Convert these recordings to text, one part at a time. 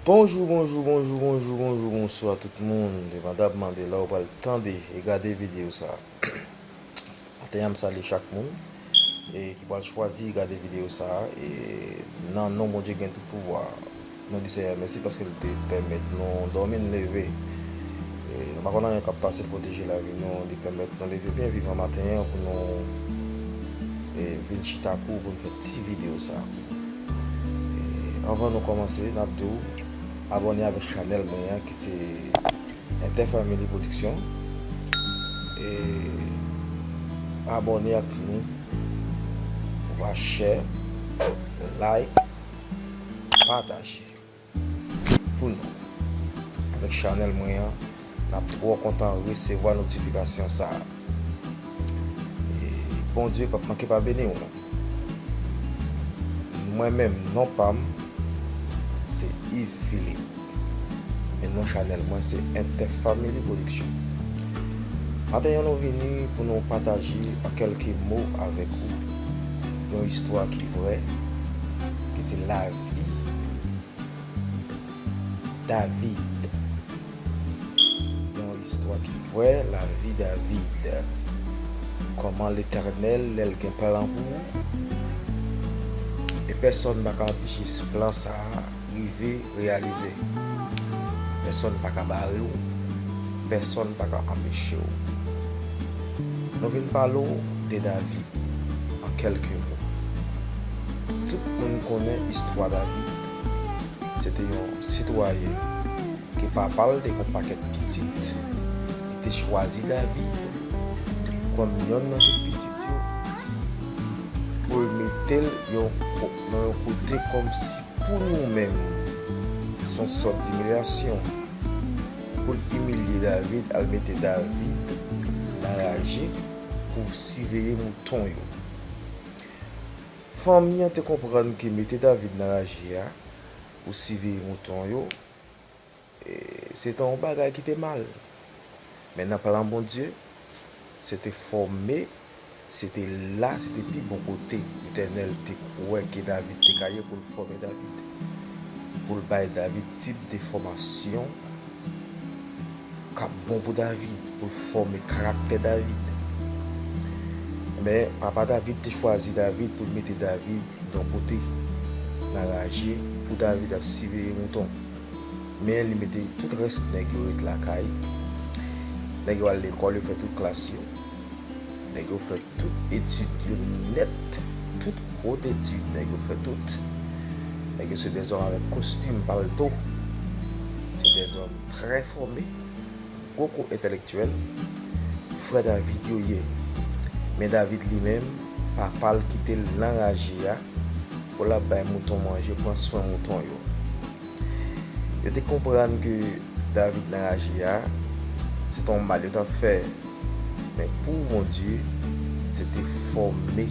Bonjou bonjou bonjou bonjou bonjou bonswa tout moun depandabman de la ou pral tande e gade video sa. Maten an m salye chak moun ki pral chwazi gade videyo sa a e nan non Bondye ki gen tout pouvwa a nou di Senyè mèsi paske l te pèmèt nou dòmi n leve e nou pa konn anyen k ap pase pwoteje lavi nou li pèmèt nou leve byen vivan maten an pou nou vin chita ak ou pou n fè ti videyo sa a Anvan nou kòmanse n ap di w abòne avèk chanèl mwen an ki se Interfamily production e abone ak nou ou va share like pataje pou nou avèk chanèl mwen an nap trò kontan resevwa notifikasyon sa. E Bondye pap manke pa beni w non. Mwen menm non pam se Yves Philippe men non chanèl mwen se Interfamily Production. Maten an nou vini pou nou pataje an kelke mo avèk ou yon istwa ki vrè ki se lavi David. Yon istwa ki vrè lavi David Kòman Letènèl lè l gen plan pou ou e pèsonn pa ka anpeche plan sa a rive reyalize Pèsonn pa ka bare w Pèsonn pa ka anpeche w Nou vin pale w de David an kèlke mo Tout moun konnen istwa David. Se te yon sitwayen ke papa l te gon pakèt pitit. Li te chwazi David kòm yonn nan tout pitit yo pou l mete l nan yon kote kòmsi pou nou menm s on sòt dimilyasyon. Pou l imilye David al mete David nan raje pou siveye mouton yo. Fanmi an te konprann ke mete David nan raje a pou siveye mouton yo se te yon bagay ki te mal. Men nan plan Bondye, se te fòme, se te la, se te pi bon kote Letènèl te kwè ke David te ka ye pou l fòme David, pou l bay David tip de fòmasyon. k ap bon pou David, pou l fòme karaktè David. Men, papa David te chwazi David pou l mete David yon kote, nan raje, pou David ap siveye mouton. Men, li mete tout rès nèg yo ret lakay. Nèg yo al lekòl, yo fè tout klas yo. Nèg yo fè tout etid yo nèt. Tout gwo etid, nèg yo fè tout. Nèg yo se dèzòm avèk kostim, palto. Se dèzòm. Trè fòme, gwo kou entèlektyèl, frè David yo ye. Men David li menm, papa l kite l nan raje a pou l ap bay mouton manje, pran swen mouton yo. Yo te konprann ke David nan raje a, se t on mal yo t ap fè. Men pou Bondye, se te fòme,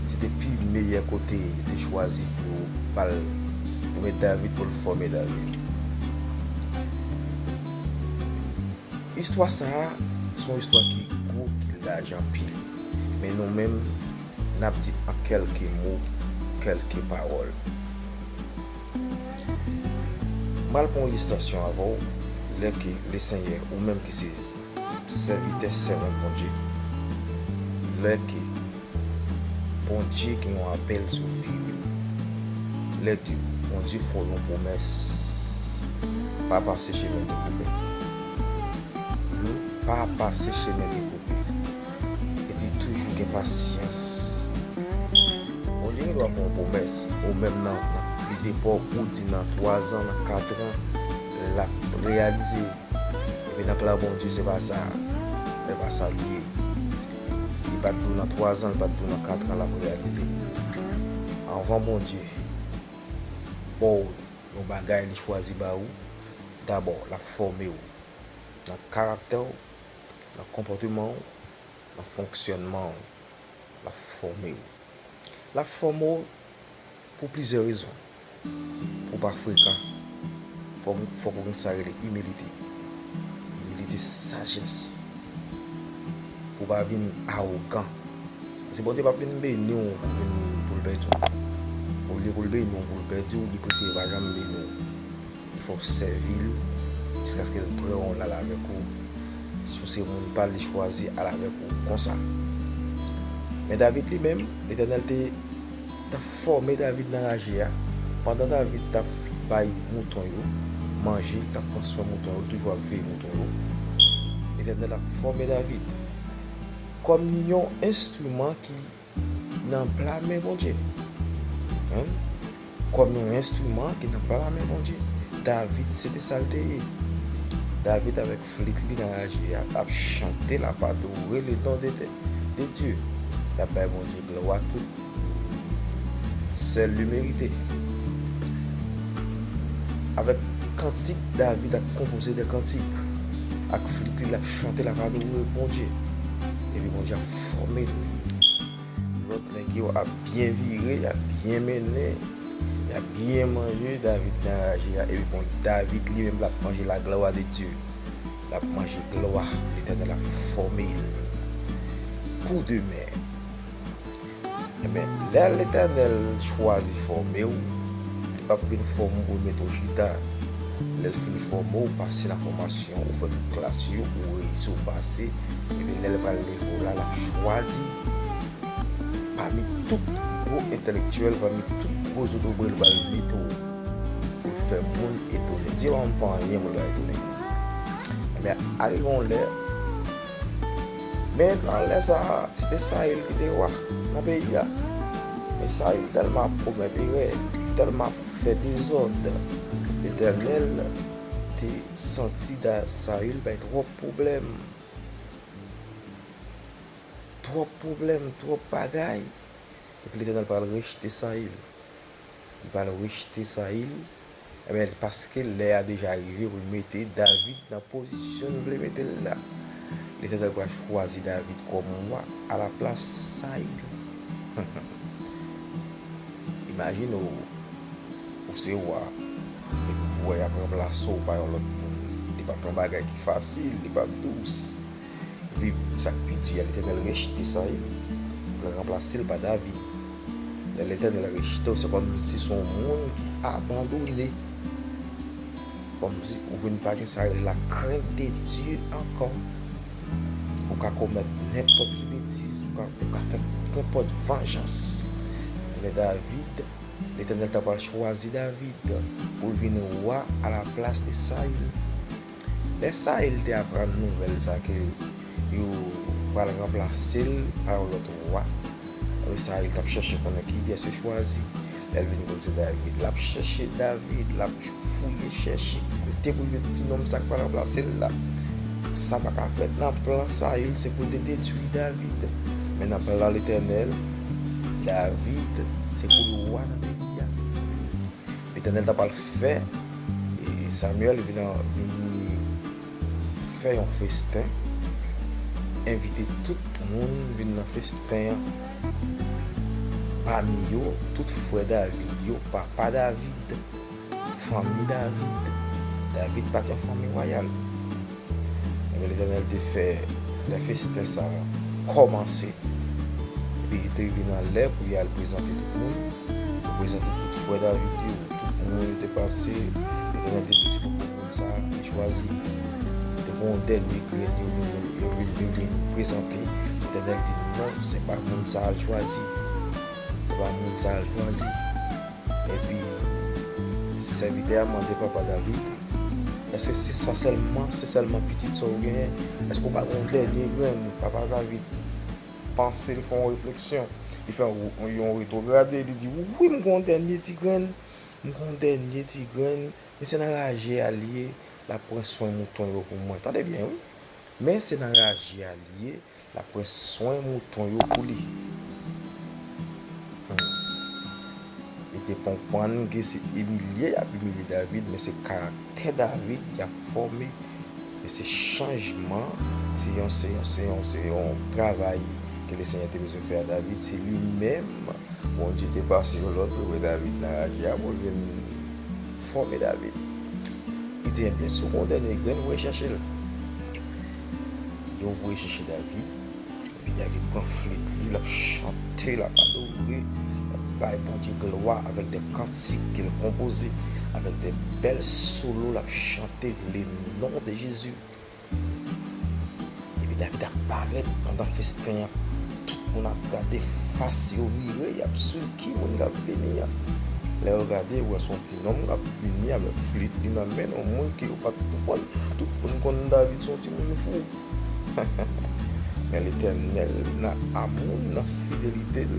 se te pi meyè kote li te chwazi pou yo ba l Prens David pou l fòme David. Istwa sa a, se yon istwa ki gwo, ki laj anpil. Men nou menm, n ap di an kèlke mo, kèlke pawòl. M pral pran yon distansyon avè w, lè ke Lesenyè, ou menm ki se Sèvitè sèvant Bondye lè ke Bondye gen yon apèl sou viw lè ke Bondye fè w yon pwomès pa pase chemen dekouvè yo pa pase chemen dekouvè epi toujou gen pasyans Bondye gen dwa fè yon pwomès ou menm nan li te fè w ou di nan 3 zan nan 4 zan lap reyalize. Epi nan plan Bondye se pa sa, men pa sa li ye. Li pa t dou nan twazan, li pa t dou nan katran l ap reyalize. Anvan Bondye ba w yon bagay li chwazi ba ou, dabò l ap fòme w nan karaktè w, nan konpòteman w, nan fonksyònman w. L ap fòme w. L ap fòme w Pou plizyè rezon. Pou w pa frekan, fòk ou gen sa rele imilite. Imilite se sajès. Pou w pa vin awogan. Paske Bondye p ap vin beni w pou l pèdi w. Olye pou l beni w pou l pèdi w, li prefere l pa janm beni w. Il fòw sèvil jiskaskel pran ou lal avèk ou si ou se moun pal li chwazi al avèk ou konsa men David li menm letènèl te tap fòme David nan raje a pandan David tap bay mouton yo manje li tap pran swen mouton yo li toujou ap veye mouton yo letènèl ap fòme David kòm yon enstriman ki Nan pla men Bondye. Humm kòm yon enstriman ki nan pla men Bondye. David se te sal te ye. David avèk flit li nan laj li a tap chante lap adore le non de de Dieu. Tap bay Bondye glwa tout sèl li merite. Avèk kantik David ap konpoze de kantik. Ak flit li lap chante lap adore Bondye. Epi Bondye ap. Fòme l wi. Lòt nèg yo ap byen vire, y ap byen mennen, y ap byen manje, David gen anraje a. Epi bon David li menm l ap manje la glwa de Dye. L ap manje glwa. Letènèl ap fòme l pou demen. Ebyen, lè Letènèl chwazi fòme w, Li pap vin fòme w pou L mete w chita. Lè L fin fòme w, pase nan fòmasyon, ou fè tout klas yo, ou reyisi, ou pase, ebyen lè L pral leve w la, L ap chwazi pami tout gwo entèlektyèl, pami tout gwo zotobre L pral mete w pou L fè moun etone. Dye pa janm fè anyen pou L pa etone li. Ebyen, arive yon lè. Men nan lè sa a, se te Sayil ki te wa nan peyi a. Men Sayil tèlman ap komèt erè, tèlman ap fè dezòd, Letènèl te santi Sayil bay twòp pwoblèm. Twòp pwoblèm, twòp bagay. Epi Letènèl pral rejte Sayil. Li pral rejte Sayil. Ebyen se paske lè a deja rive pou l mete David nan pozisyon l vle mete l la. Letènèl pral chwazi David kòm wa alaplas Sayil. Imajine w, ou se wa, epi w wè y ap ranplase w pa yon lòt moun. Li p ap yon bagay ki fasil, li p ap dous. Epi sak pi di a Letènèl rejte sa wi pou l ranplase l pa David. Lè Letènèl rejte w se kòm si se yon moun ki abandone. Kòm si ou vin pa gen sa rele la krent de Dye ankò. Ou ka komèt nenpòt ki betiz, ou ka fè nenpòt vanjans. Lè David, Letènèl ta pral chwazi David pou l vin wa a la plas de Saül. Lè Sayil te aprann nouvèl sa ke yo pral ranplase l pa yon lòt wa, ebyen Sayil t ap chèche konnen kiyès yo chwazi. Lè l vin konn se David, l ap chèche David, l ap fouye chèche kote pou l jwenn ti nonm sa k pral ranplase l la. Sa pa ka fèt nan plan Sayil se pou l te detwi David. Men nan plan Letènèl, David se pou l wa nan peyi a. Letènèl ta pral fè Samuel vini fè yon festen, envite tout moun vini nan festen an, pami yo tout frè David yo, papa David, fanmi David, David pa t yon fanmi wayal. Ebyen Letènèl te fè lè festen sa a kòmanse, epi li te rive nan lè pou y al prezante tout moun, yo prezante tout frè David yo, tout moun yo te pase, Letènèl te di se pou grenn moun sa a li chwazi. Te gen yon dènye grenn yo vin yo vin prezante, Letènèl di non se pa moun sa a l chwazi, se pa moun sa a l chwazi. Epi, sèvitè a mande papa David, Èske se sa sèlman, se sèlman pitit sa ou genyen? Èske ou pa gen yon dènye grenn? Papa David panse, li fè yon refleksyon, li fè yon retrograde, li di, Wi, m gen yon dènye ti grenn, m gen yon dènye ti grenn, men se nan raje a li ye, l ap pran swen mouton yo pou mwen. Tande byen wi! Men se nan raje a li ye, L ap pran swen mouton yo pou li. Li te konprann ke se imilye y ap imilye David, men se karaktè David y ap fòme. Men se chanjman, se yon, se yon, se yon, se yon travay ke Lesenyè te bezwen fè a David. Se li menm Bondye te pase yon lòd pou l bay David nan raje a pou l vin fòme David. Li di, Enben, si w kondane grenn, ou recherche l. Yo voye chèche David, epi David pran flit li, l ap chante, l ap adore, l ap bay Bondye glwa avèk de kantik ke l konpoze, avèk de bèl solo l ap chante le non de Jezi. Epi David ap parèt pandan festen an, tout moun ap gade, fas yo vire, y ap swiv ki moun k ap vini an. Lè yo gade, yo wè s on ti. Nonm kap vini avèk flit li nan men yon moun ke yo pat pou konn. Tout moun konn David son ti moun fou. Men Letènèl nan amou l nan fidelite l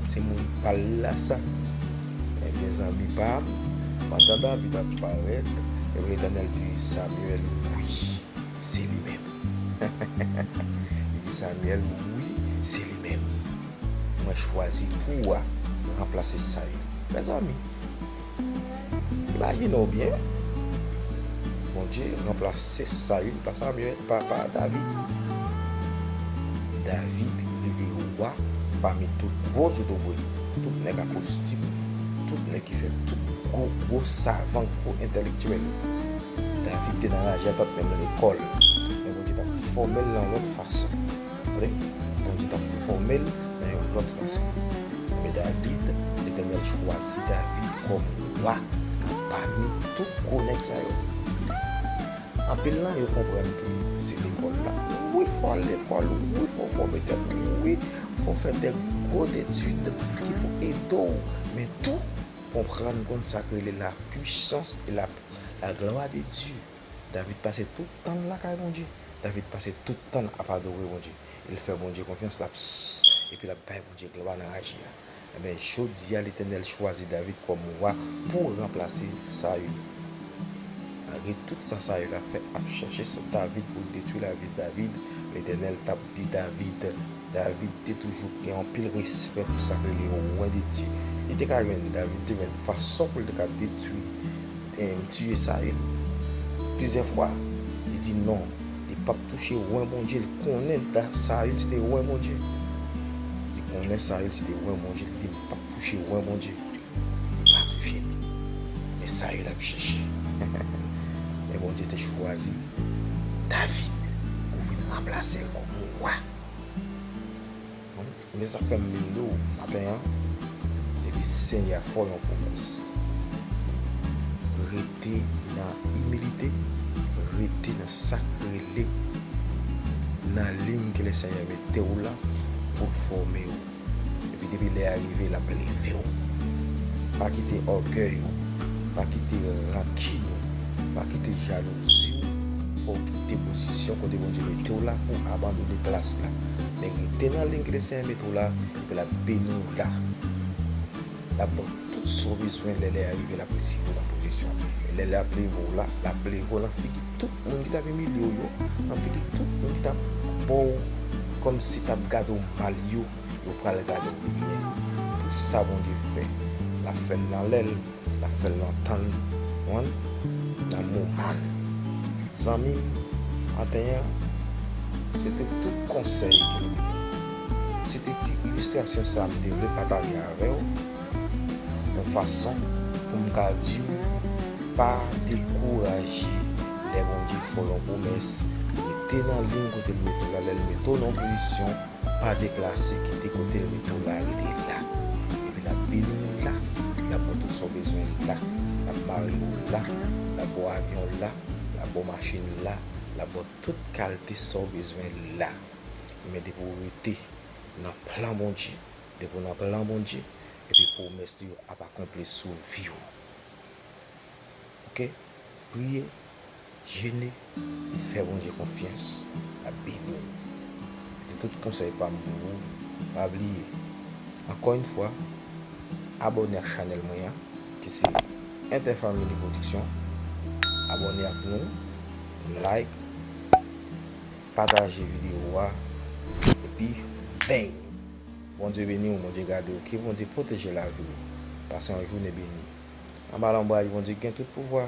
se moun pa l la sa. Ebyen zanmi pa m, pandan David ap parèt, ebyen Letènèl di Samuel wi se li menm. Li di Samuel wi se li menm. Mwen chwazi pou wa ranplase sa yo. Mezanmi! Imajine w byen, Bondye ranplase Saül pa Samuel, pa David. David rive wa pami tout gwo zotobre, tout nèg a kostim, tout nèg ki fè tout gwo, gwo savan, gwo entèlektyèl. David te nan raje atant menm lekòl. Men Bondye t ap fòme l nan lòt fason. Vre, Bondye t ap fòme l nan yon lòt fason. Men David, Letènèl chwazi David kòm wa nan pami tout gwo nèg sa yo. Anpil nan yo konprann ke se lekòl la. Wi, fò al lekòl, wi, fò fòme tèt ou, wi, fò fè de gwo etid ki pou ede w, men tou, konprann, konn sa k rele la pwisans e la glwa de Dye. David pase tout tan l lakay Bondye. David pase tout tan l ap adore Bondye. E l fè Bondye konfyans, l ap s, epi l ap bay Bondye glwa nan aji a. Enben, jodi a, Letènèl chwazi David kòm wa pou ranplase Saül. Malgre tout sa Saül ap fè, ap chèche sou David pou l detwi lavi David, Letènèl t ap di David, David te toujou gen anpil respè pou sa k rele Wen de Dye. Li te ka jwenn, David te jwenn fason pou l te ka detwi, tiye Sayil. Plizyè fwa, li di non, li pap touche Wen Bondye. Li konnen Sayil se te Wen Bondye. Li konnen Sayil se te Wen Bondye. Li di, M pap touche Wen Bondye. Li pa touche l. Men Sayil ap chèche. Men Bondye te chwazi David pou vin ranplase l kòm wa. Mwen sa fèm vin dou maten an depi si Senyè a fè w yon pwomès rete nan imilite, rete nan sak rele nan liy ke Lesenyè mete w la pou l fòme w. Epi depi lè a rive lap leve w. Pa kite ògèy ou, pa kite rankin ou, pa kite jalouzi w fè w kite pozisyon kote Bondye mete w la pou w abandone plas la. Men rete nan liy kote Senyè mete w la epi lap beni w la. Lap baw tout sa w bezwen lè lè a rive lap retire w nan pwofesyon an e lè lè ap leve w la lap leve w nan figi tout moun ki tap imilye w yo nan figi tout moun ki tap bo w komsi tap gade w mal yo yo pral gade w byen tout sa Bondye fè lap fè l nan lè l lap fè l nan tan l konprann nan moman l zanmi m maten an se te tout konsèy ki Se te ti ilistrasyon sa m te vle pataje avè w yon fason pou m ka di w pa dekouraje lè Bondye fè w yon pwomès, rete nan liy kote l mete w la, lè l mete w nan yon pozisyon pa deplase kite kote l mete w la rete la epi l ap beni w la, l ap ba w tout sa w bezwen la, l ap mare w la, l ap ba w avyon la, l ap ba w machin la, l ap ba w tout kalte sa w bezwen la. Men depi ou rete nan plan Bondye, depi ou nan plan Bondye, epi pwomès li yo ap akonpli sou vi ou. Ok, priye, jene, fè Bondye konfyans, lap beni ou. Se tout konsèy pam pou ou, pa bliye, ankò yn fwa, abòne ak chanèl mwen an, ki se Interfamily Production, abòne ak nou, like, Pataje video a epi beny. Bondye beniw bondye gadew ke bondye proteje laviw pase yon joune beni anba lonbraj bondye ki gen tout pouvwa.